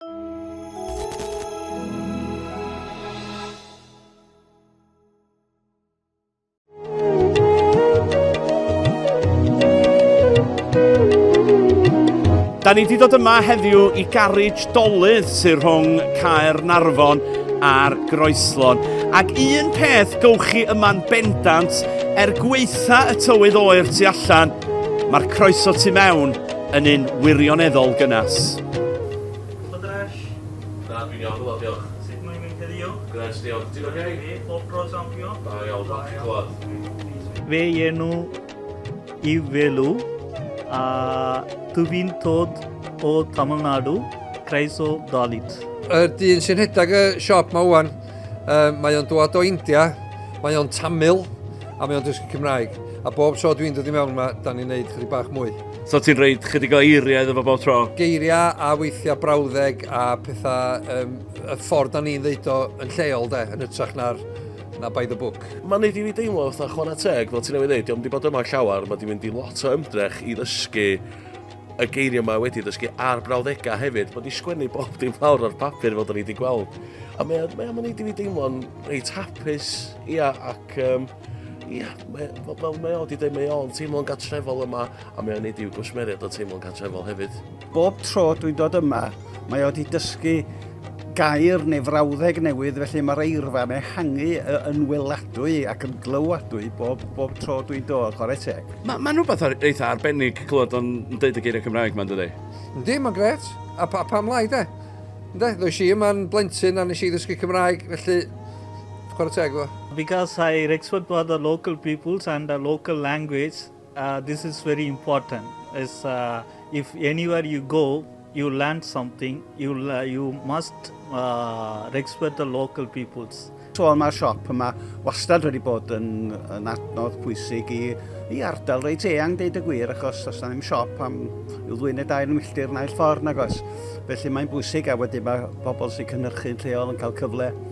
Da ni wedi dod yma heddiw i garej dolydd sy'n rhwng Caer Narfon a'r Groeslon. Ac un peth gywch chi yma'n bendant, er gweitha y tywydd oer tu allan, mae'r croeso tu mewn yn un wirioneddol gynnes. Gwbod yr ell? Na, dwi'n iawn, wel diolch. Sut mae'n mynd heddiw? Grêt, diolch. Ti'n ok? Ie, pob tro champion. Da iawn, falch i clywed. Fy enw yw Velu a dw i'n dod o Tamil Nadu, Croeso Dalit. Y dyn sy'n rhedeg y siop ma ŵan, uh, mae o'n dod o India, mae o'n Tamil a mae o'n dysgu Cymraeg. A bob tro dwi'n dod i mewn yma, da ni'n neud chydig bach mwy. So ti'n rhaid chydig o eiriau iddo fo bob tro? Geiriau a weithiau brawddeg a pethau, um, y ffordd da ni'n ddeud o yn lleol de, yn ytrach na'r na by the book. Mae'n neud i fi deimlo fatha chwarae teg, fel ti'n ei ddeud, diolch wedi bod yma llawer, mae wedi mynd i lot o ymdrech i ddysgu y geiriau mae wedi ddysgu a'r brawddegau hefyd, mae wedi sgwennu bob dim lawr ar papur fel da ni wedi gweld. A mae'n mae wedi fi deimlo'n reit hapus, ia, ac um, Ia, mae, fel mae o wedi dweud, mae o'n teimlo'n gatrefol yma, a mae o'n neud i'w gwsmeriaid o teimlo'n gatrefol hefyd. Bob tro dwi'n dod yma, mae o wedi dysgu gair neu frawddeg newydd, felly mae'r eirfa'n ehangu yn weladwy ac yn glywadwy bob, bob tro dwi'n dod, chwarae teg. Mae'n ma rhywbeth ar, eitha arbennig clywed o'n dweud y geiriau Cymraeg mae'n dydy? Yndi, mae'n gret. A pa, pam lai, de? Ynddo, ddwys i yma'n blentyn a nes i ddysgu Cymraeg, felly Chwarae teg iddo fo. Because I respect for the local peoples and the local language, uh, this is very important. Is uh, if anywhere you go, you learn something. You uh, you must uh, respect the local peoples. So mae'r siop yma wastad wedi bod yn, yn adnodd pwysig i, i ardal reit eang, deud y gwir, achos os na ddim siop am i'w ddwy'n y dair milltir naill ffordd nag os. Felly mae'n bwysig a wedyn mae pobl sy'n cynhyrchu'n lleol yn cael cyfle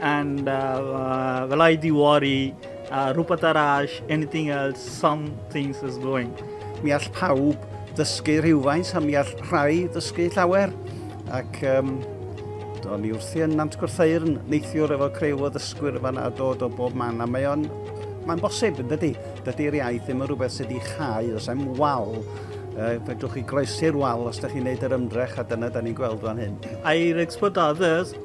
And uh, well, I do worry uh, rhywbeth arall, anything else, some things is going. Mi all pawb ddysgu rhywfaint a mi all rhai ddysgu llawer. Ac um, do'n i wrthi yn Nant Gwrtheirn, neithiwr efo creu o ddysgwyr yma a dod o bob man, a mae o'n Mae'n bosib, yn dydy. Dydy'r iaith ddim yn rhywbeth sydd wedi chau, os am wal. Uh, fedrwch chi groesi'r wal os ydych chi'n gwneud yr ymdrech, a dyna da ni'n gweld fan hyn. I'r expert others,